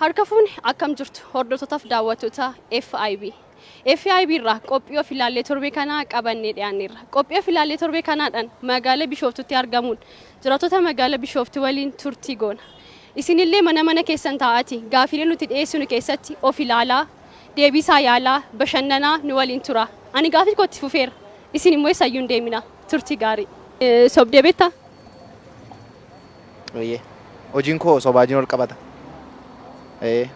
Harka fuune akkam jirtu hordoftootaf daawwattoota FIB. FIB irraa qophii of ilaallee torbee kanaa qabannee dhiyaanneerra. Qophii of ilaallee torbee kanaadhaan magaala Bishooftuutti argamuun jiraattota magaala Bishooftuu waliin turtii goona. Isinillee mana mana keessan taa'aati gaafiilee nuti dhiyeessinu keessatti of ilaalaa, deebiisaa yaalaa, bashannanaa nu waliin tura. Ani gaafii kootti fufeera. Isin immoo eessayyuu hin deemina. Turtii gaarii. Sobdee beektaa? Eeyyee. Hojiin koo sobaa wajjin wal qabata. Eeyyee.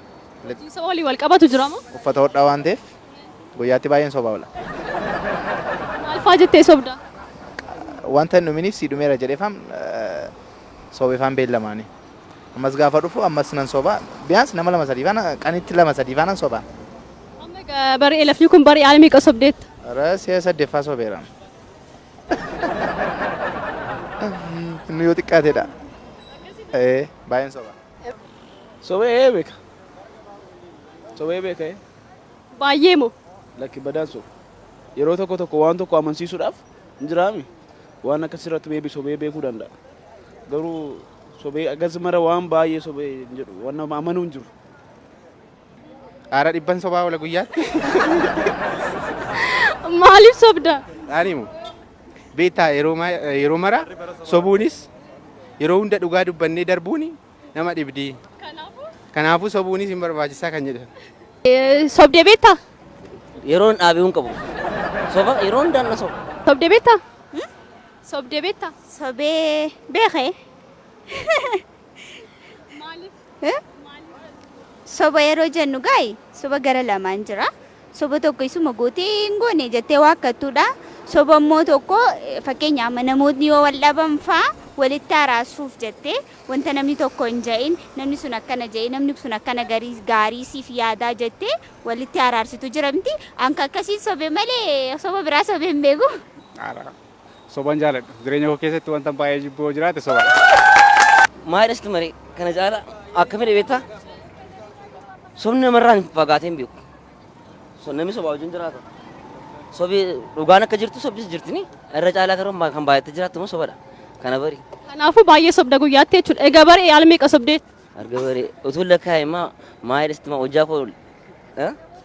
Hojiin soba waliin wal qabatu jira moo? Uffata hodhaa waan ta'eef guyyaatti baay'een sobaa oola. Maal fa'aa jettee sobdaa? Wanta hin dhuminiif sii dhumeera jedheefaan sobeefaan beellamaanii. Ammas gaafa dhufu ammas nan sobaa. Biyaans nama lama sadii faana qanitti lama sadii faana sobaa. Amma egaa bari elafni kun bari aala meeqa sobdeetta? Ara si'a saddeeffaa sobeera. Inni yoo xiqqaatedha. Ee, baay'een soba. Sobee ee beeka. Sobee beeka ee. Baay'ee moo? Lakki badaan soba. Yeroo tokko tokko waan tokko amansiisuudhaaf hin jiraami. Waan akka sirratti beebi sobee beekuu danda'a. Garuu sobee agas mara waan baay'ee sobee hin jedhu. Waan nama amanuu hin jiru. Dhaara dhibban sobaa oola guyyaatti. Maaliif sobda? Dhaanimu. Beektaa yeroo ma- yeroo mara sobuunis yeroo hunda dhugaa dubbannee darbuun nama dhibdi. Kanaafuu sobuunis hin barbaachisaa kan jedhan. Eh, Sobdee beektaa? Yeroon dhaabee hin qabu. Soba yeroo hundaan na soba. Sobdee beektaa? Sobdee beektaa? Sobee beekee. Eh? soba yeroo jennu gaayi soba gara lamaan jira soba tokko isuma gootee hin goone jettee waakkattuudha soba immoo tokko eh, fakkeenyaaf amma namootni yoo wal dhaban faa walitti araarsuuf jettee wanta namni tokko hin ja'in namni sun akkana ja'e namni sun akkana garii gaarii siif yaadaa jettee walitti araarsitu jira miti anka akkasiin sobe malee soba biraa sobe hin beeku. Ara. Soban jaaladhu. Jireenya koo keessatti wantan baay'ee jibbu yoo jiraate sobadha. Maayidha sitti maree kana caala akkamidha beektaa? Sobni namarraa hin fagaatee hin beeku. So namni sobaa wajjin jiraata. Sobi dhugaan akka jirtu sobdis jirtini. Irra caalaa garuu kan baay'attee jiraattu immoo sobadha. Kana bari. Kanaafuu baay'ee sobda guyyaatti jechuudha. Egaa baree yaal meeqa sobdee? Arga bari utuu lakkaa'e immoo maayidha sitti maa hojjaa koo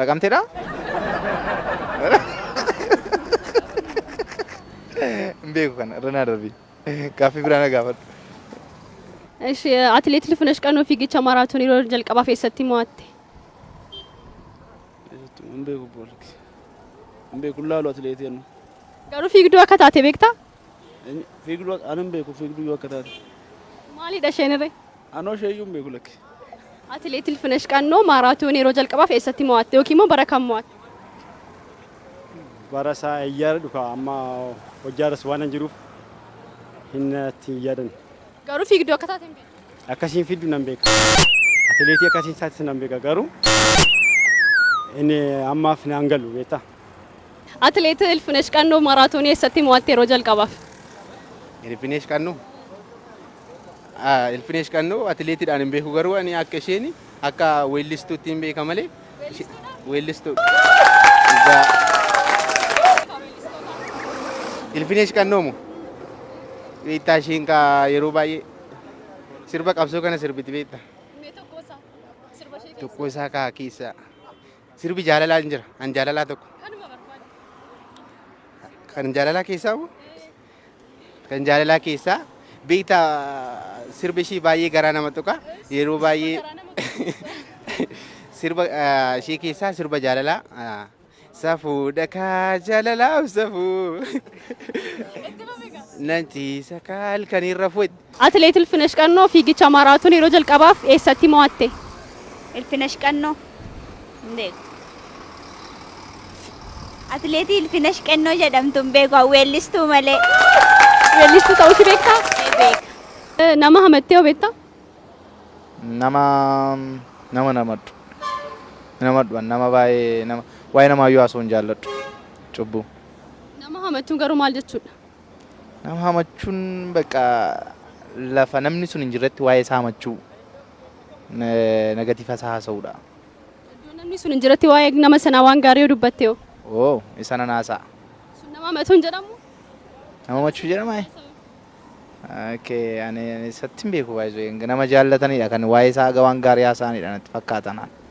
Naqamteedha? Hin beeku kana irra naa darbi. Gaaffii biraa na gaafadhu. Ishi atileet Lifinesh Qanoo fiigicha maaraatoonii yeroo jalqabaaf eessatti mo'atte? Hin beeku boolki. Hin beeku laalu atileetii annu. Garuu fiigduu akka taate beektaa? Fiigduu ani hin beeku fiigduu yoo akka taate. Maalidha isheen irree? Anoo isheeyyuu hin beeku lakki. Atileet Ilfinash Qannoo maaraatoonii yeroo jalqabaaf eessatti mo'atte yookiin immoo bara kam mo'atte? Bara isaa eeyyaara dhuka amma hojjaaras waan hin jiruuf hin natti hin yaadan. Garuu fiigduu akka taate hin beektu. Akkasiin fiigdu nan beeka. Atileetii akkasiin taates nan beeka garuu inni ammaaf naan galu beektaa. Atileet Ilfinash Qannoo maaraatoonii eessatti mo'atte yeroo jalqabaaf? Ilfineesh Qannoo Ilfinesh Qannoo atileetiidhaan hin beeku garuu ani akka isheen akka weellistuutti hin beeka malee weellistuu. Ilfinesh Qannoo moo? Beektaa isheen kaa yeroo baay'ee sirba qabsoo kana sirbiti beekta. Tokko isaa kaa keessaa sirbi jaalalaa hin jira. An jaalalaa tokko. Kan jaalalaa keessaa moo? Kan jaalalaa keessaa beekta sirba ishii baay'ee garaa nama tuqa yeroo baay'ee sirba ah, ishii keessaa sirba jaalalaa ah, safuudha kaa jaalalaaf safuu nanti sakaal kan irra fuutti Atileet Ilfinesh Qannoo fiigicha maaraatoonii yeroo jalqabaaf eessatti mo'atte? Ilfinesh Qannoo hin beeku. Atileetii Ilfinesh Qannoo jedhamtu hin beeku, an weellistuu malee. Weellistuu ta'uu ishii beektaa? Ee beeka. Nama hamattee hoo beektaa? Nama nama hin hamadhu. Hin hamadhu an nama baay'ee nama waa'ee namaayyuu haasa'uu hin jaalladhu. Cubbuu. Nama hamachuun garuu maal jechuudha? Nama hamachuun bakka lafa namni sun hin jirretti waa'ee isaa hamachuu nagatiifa isaa haasa'uudha. Iddoo namni sun hin jiretti waa'ee nama sanaa waan gaarii yoo dubbatte hoo? Oo isa nan haasa'a. Sun nama hamachuu hin jedhamu? Nama hamachuu jedhama ee? Okay, ani ani isatti hin beeku baay'ee nama jaallatanidha kan waa'ee isaa haga waan gaarii haasa'anidha natti fakkaata naan.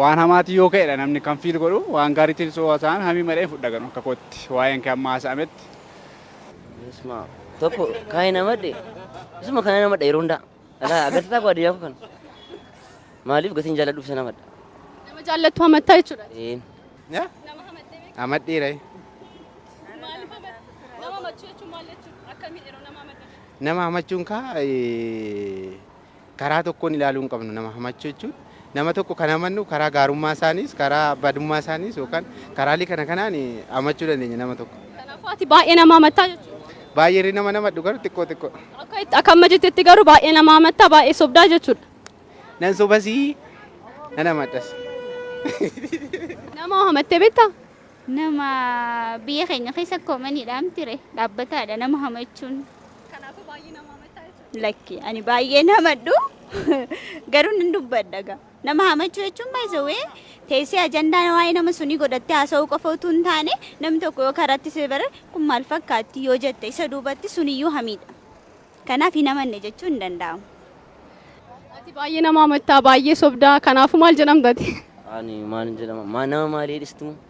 Waan hamaatiin yoo ka'edha namni kan fiil godhu waan gaariitiin osoo haasa'an hamii madhee fudha ganu akka kootti waa'een kee amma haasa'ametti. Isma tokko kaayee namadhe isuma kana namadha yeroo hundaa alaa agarsiisaa koo adiyyaa koo kana maaliif gatiin jaalladhuuf isa namadha. Nama jaallattu hamattaa jechuudha. Een. Nama hamattee beektu Amadhiira. maaliif hamatta? Nama hamachuu jechuun maal jechuudha? Akkamiin yeroo nama hamattan? Nama hamachuun kaa Karaa tokkoon ilaaluu hin qabnu nama hamachuu jechuun. Nama tokko kan hamannu karaa gaarummaa isaaniis, karaa badummaa isaaniis yookaan karaalee kana kanaan hamachuu dandeenya nama tokko. Kanaafuu ati baay'ee nama hamattaa jechuudha. Baay'ee irri nama namadhu garuu xiqqoo xiqqoo. Akka itti akka amma jettetti garuu baay'ee nama hamattaa baay'ee sobdaa jechuudha. Nan sobasii nan hamadhas. Nama hamattee beektaa? Nama biyya keenya keessa koomaniidhaan ture dhaabbataadha nama hamachuun. Kanaafuu baay'ee nama hamattaa Lakki ani baay'een hamadhu garuu nan dubbadha gaa. Nama hamachuu jechuun baay'isawee teessee ajandaan waa'ee nama sunii godhattee haasa'uu qofa utuu hin taane namni tokko yoo karaatti si bare kun maal fakkaatti yoo jette isa duubatti suniyyuu hamiidha. Kanaaf hin hamanne jechuun hin danda'amu. Ati baay'ee nama hamattaa baay'ee sobdaa kanaafuu maal jedhamtati? Ani maal jedhama? Maa nama maalii dhistu?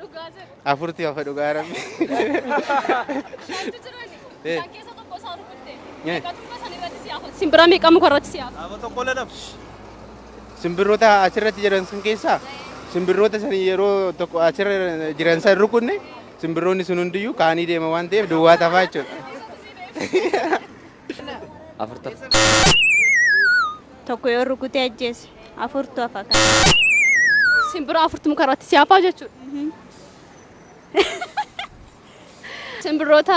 Dhugaa jedhu. Afurti hafa dhugaa rabbi. Shantu jirani. Eh. Isaan keessa tokko isaa rukutte. Eh. Meeqa durba san irratti si hafa? Simbira meeqa muka irratti si hafa? Dhaaba tokko lana. Simbirroota asirratti jiran sun keessaa simbirroota san yeroo tokko asirra jiran san rukunne simbirroonni sun hundiyyuu kaanii deema waan ta'eef duwwaa tafaa jechuudha. afurtu hafa. Tokko yoo rukutee ajjeese afurtu hafa kan. Simbira afurtu muka irratti si hafaa jechuudha. Simbirroota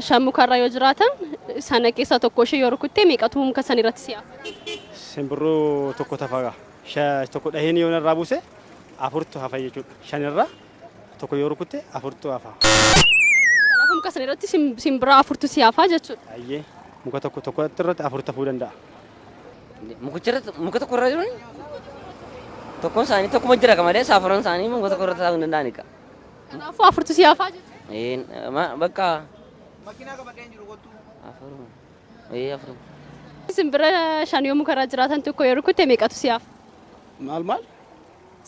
shan mukarra yoo jiraatan sana keessaa tokko ishee yoo rukuttee meeqatu muka san irratti si hafa? Simbirroo tokko tafaga. Tokko dhaheen yoo narraa buuse afurtu hafa jechuudha. Shanirra Tokko yoo rukutte afurtu hafa. Kanaafuu muka sana irratti sim- simbiraa afurtu si hafaa jechuudha. Baay'ee muka tokko tokko irratti afur ta'uu danda'a. Mukicha irratti muka tokko irra jiruun tokkoon isaanii tokkuma jira ka malee saafuran isaanii muka tokko irra taa'uu hin danda'ani ka. Kanaafuu afurtu si hafaa jechuudha. Ee, ma- bakka Makiinaa qabadhee hin jiru kottu. afuruma. Ee afuruma. Simbira shan yoo muka irra jiraatan tokko yoo rukutte meeqatu si hafa? Maal maal?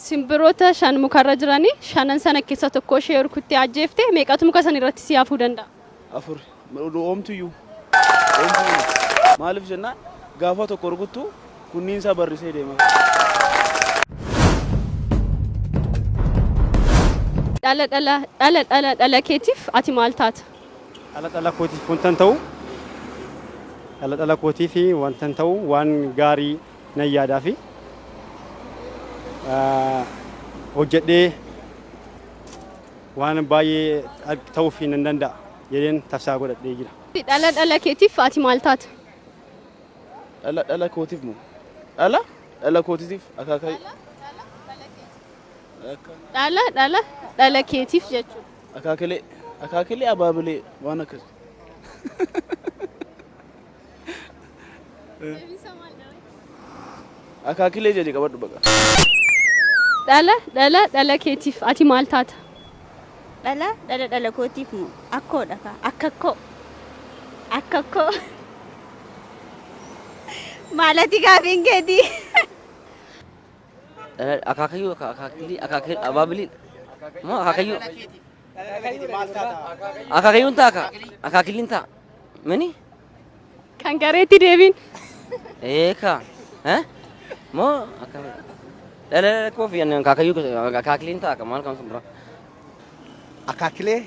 Simbirota shan mukarra jirani shanan sana kessa tokkoo ishee rukuttee ajjeefte meeqatu muka san irratti si hafuu danda'a? Afur. Oomtuyyuu. Maalif jennaan gaafa tokko rukuttu kunniin isaa barrisee deema. Dhala dhala dhala dhala dhala keetiif ati maal taata? Dhala dhala kootiif wantan ta'u dhala dhala kootiif wantan ta'u waan gaarii nan yaadaa fi hojjedhee waan baay'ee ta'uuf nan danda'a jedheen tafsaa godhadhee jira. Dhala dhala keetiif ati maal taata? Dhala dhala kootiif moo? Dhala dhala kootiif akaakayyuu. Dhala dhala dhala keetiif jechuudha. Akaakilee akaakilee abaabilee waan akkasii. Akaakilee jedhi qabadhu baqa. Dhala dhala dhala keetiif ati maal taata? Dhala dhala dhala kootiif moo akkoodha kaa akkakkoo akkakkoo maalati gaafiin keetii Akaakayyuu akaakilii akaakilii abaabilii moo akaakayyuu. Akaakayyuun ta'a kaa. Akaakilliin ta'a. Mini? Kan gareetti deebiin. Ee kaa. Eh? Moo akka dhala koof yan akaakayyuu akaakilliin ta'a kaa maal kan sun bira. Akaakilee.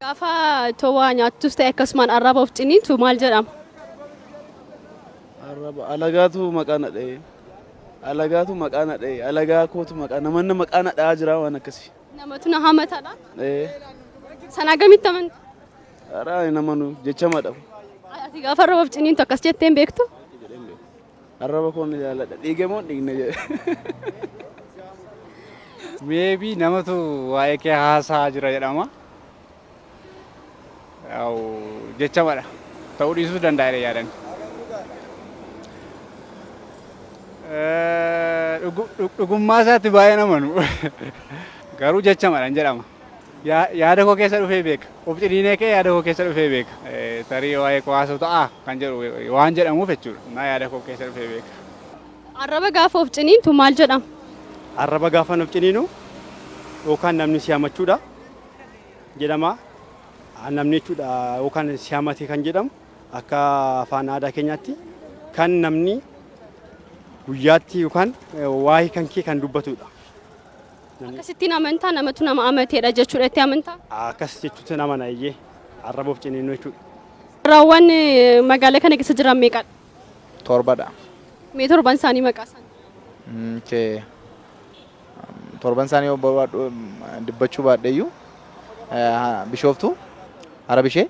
Gaafa towaa nyaattus ta'e akkasumaan arraba of ciniintu maal jedhama? Arraba alagaatu maqaa na dha'ee. Alagaatu maqaa na dha'ee. Alagaa kootu maqaa namanna maqaa na dha'aa jira waan akkasii. Namatu na hamatadha. Ee. Sana akkamitti amantu? Araa hin amanu jechama dhabu. Ati gaafa arrabaf ciniintu akkas jetteen beektu? Arraba koon ni jaalladha. Dhiige moo dhiigne jedhe. Meebii namatu waa'ee kee haasaa jira jedhama. Yaa'u jechamadha. Ta'uu dhiisuus danda'a jedhee yaadan. Dhugummaa isaatti baay'een amanu. Garuu jechamadhan jedhama. Yaada koo keessa dhufee beeka. Of ciniinee kee yaada koo keessa dhufee beeka. Tarii waa'ee koo haasa'u ta'a kan jedhu waan jedhamuuf jechuudha. Naa yaada koo keessa dhufee beeka. Arraba gaafa of ciniintu maal jedhama? Arraba gaafa of ciniinu yookaan namni si hamachuudha. jedhama. Namni jechuudha yookaan si hamate kan jedhamu akka afaan aadaa keenyaatti kan namni guyyaatti yookaan waa'ee kan kee kan dubbatudha. Akkasittiin amantaa namatu nama amateedha jechuudha itti amantaa. Akkas jechuutti nama naayyee arraba of ciniinnu jechuudha. Carraawwan magaalaa kana keessa jiran meeqadha? Torbadha. Mee torban isaanii maqaa isaanii? Okay. torban isaanii yoo barbaadhu dubbachuu baadheeyyuu bishooftuu harabishee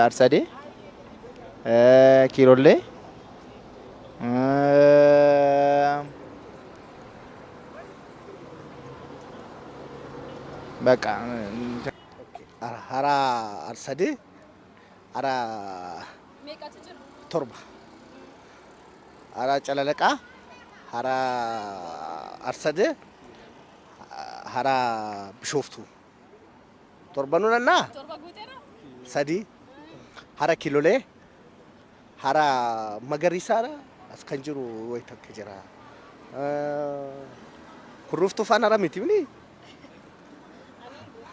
arsadee kiirollee baqa haraa arsadee Hara Meeqatu jira? torba. Hara Calalaqaa, hara Arsadee, hara Bishooftuu. Torbanuu nannaa? Torba guuteera? sadii. Hara Kilolee, Hara magariisaadha as kan jiru wayi takka jira. Kurruuftuu faan hara miti mini.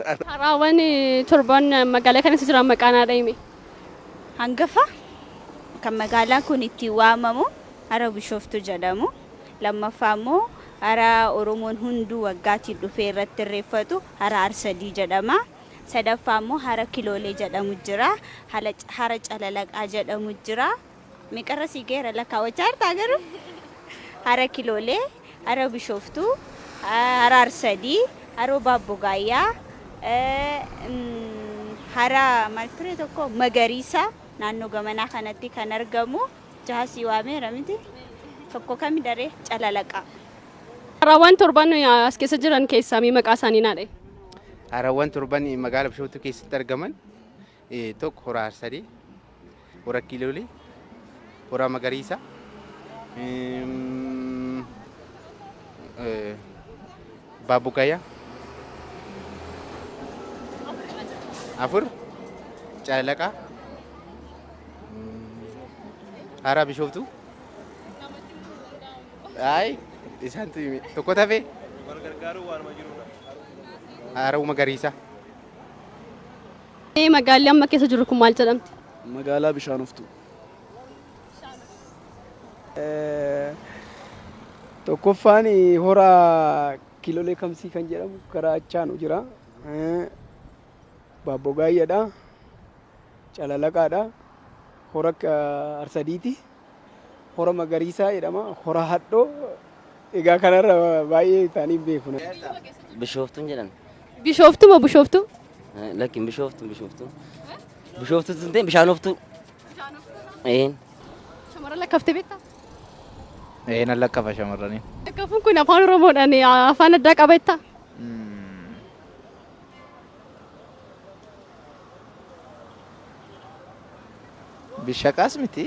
Haraawwan torban magaalaa kana keessa jiran maqaan haadha hime. Hangafa kan magaalaan kun ittiin waamamu hara Bishooftuu jedhamu. Lammaffaa immoo hara Oromoon hunduu waggaatiin dhufee irratti irreeffatu hara Arsadii jedhama. sadaffaa immoo hara kiloolee jedhamu jira hala hara calalaqaa jedhamu jira meeqarra sii geera lakkaawwachaa jirtaa garuu hara kiloolee hara bishooftuu ah, hara arsadii haroo baabbogaayyaa eh, mm, hara maal ture tokko magariisa naannoo gamanaa kanatti kan argamu jaha sii waameera miti tokko kami daree calalaqaa Haraawwan torban as keessa jiran keessaa mee maqaa isaanii naa dha'i. Harawwan torban magaala Bishooftuu keessatti argaman tokko hora Harsadee, hora Kiiloolee, hora Magariisa, Baabugaya afur Calalaqaa hara Bishooftuu Ayi isantu himi. Tokko tafe Wal gargaaruu waanuma jirudha. haaruu magariisa. Ee, Magaalli amma keessa jirru kun maal jedhamti? Magaalaa bishaan oftuu. Tokkoffaan hora kiilolee kamsii kan jedhamu karaa achaanu jira. Baabbogaayyaadha. Calalaqaadha. Hora Arsadiiti. Hora Magariisaa jedhama. Hora Hadhoo. Egaa kanarra baay'ee taanii hin beeku. Bishooftuun jedhan. Bishooftu moo Bushooftu? Eh, Lakkin bishooftuun bishooftuun. Bishooftuu tun ta'e bishaanoftuu. Een. Shamarran lakkaftee beektaa? Ee nan lakkaa'a shamarranii. Lakkafuun kun afaan Oromoodhaan eh, afaan addaa qaba jettaa? Bishaqaas miti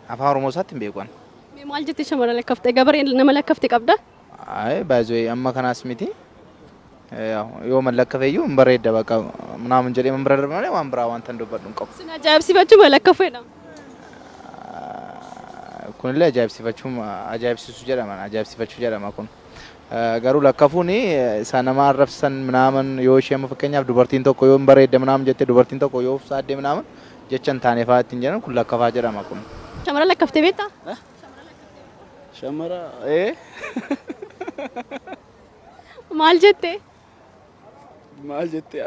afaan oromoo isaatti hin beeku ani. Mee maal jettee shamara lakkafte? Gabaree nama lakkafte qabda? Ayi baay'ee amma kanaas miti. Yoo man lakkafe iyyuu hin bareedda bakka naamun jedhee man bira darbe malee waan biraa wanta hin dubbadhu hin qabu. Sin ajaa'ibsiifachuu ma lakkafeedha? Kunillee ajaa'ibsiifachuu ajaa'ibsiisu jedhama ajaa'ibsiifachuu jedhama kun. Garuu lakkafuun isaa nama arrabsan minaaman yoo ishee amma fakkeenyaaf dubartiin tokko yoo hin bareedde minaaman jette dubartiin tokko yoo ufsaadde minaaman jecha hin taane fa'aa ittiin jedhan kun lakkafaa jedhama kun. Shamara lakkaftee beektaa? Shamara ee Maal jettee? maal jettee?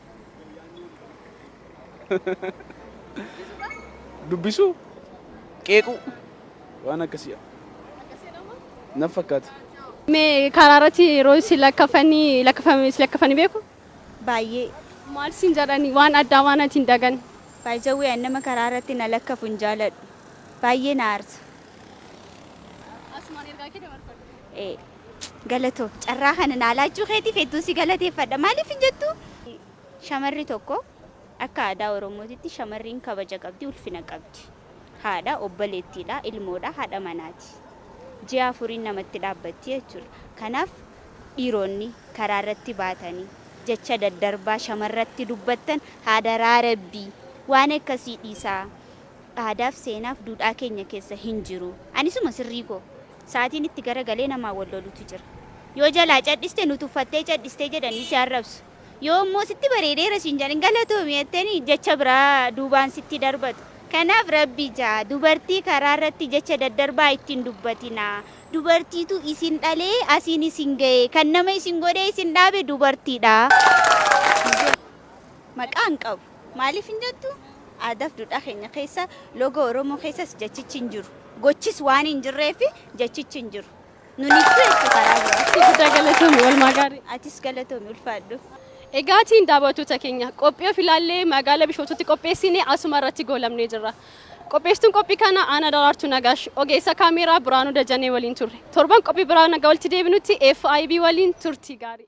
Dubbisuu? Qeequu? Waan akkasii naf fakkaata. Mee karaa irratti yeroo isin lakkafanii lakkafame isin lakkafanii beeku? Baay'ee. Maal isin jedhani waan addaa waan ati hin dagan. Baay'ee nama karaa irratti na lakkafu hin jaaladhu. Baay'ee na aarsa. Asumaan ergaa kee dabarfadhu. Ee. Galatoomi. Carraa kana naa laachuu keetiif hedduun si galateeffadha. Maaliif hin jettuu? Shamarri tokko akka aadaa Oromootitti shamarriin kabaja qabdi, ulfina qabdi. Haadha, obboleettiidha, ilmoodha, haadha manaati. Ji'a afuriin namatti dhaabbatti jechuudha. Kanaaf dhiironni karaarratti baatanii jecha daddarbaa shamarratti dubbattan hadaraa Rabbii waan akkasii dhiisaa. Aadaaf seenaaf duudhaa keenya keessa hin jiru. Ani isuma sirrii koo. Sa'atiin itti garagalee namaa wal lolutu jira. Yoo jalaa cadhiste nu tuffattee cadhiste jedhanii si arrabsu. Yoo immoo sitti bareedeera siin jedhanii galatoomi jettanii jecha biraa duubaan sitti darbatu. Kanaaf Rabbi ja, dubartii karaa irratti jecha daddarbaa itti hin dubbatinaa. Dubartiitu isin dhalee asiin isin gahee. Kan nama isin godhee isin dhaabe dubartiidha. Maqaa hin qabu. Maaliif hin jettu? Aadaaf duudhaa keenya keessa, loogoo Oromoo keessas jechichi hin jiru. Gochis waan hin jirreef jechichi hin jiru. Nun ibsu jechuu karaa biraatti. Guddaa galatoomi oolmaa gaarii. Atis galatoomi ulfaadhu. Egaatiin daawwattoota keenya qophii of ilaallee magaala Bishooftuutti qopheessine asuma irratti goolabnee jirra. Qopheessituun qophii kana Aanaa Daraartuu Nagaash, ogeessa kaameeraa Biraanuu Dajanee waliin turre. Torban qophii biraa nagaa walitti deebinutti FIB waliin turtii gaarii.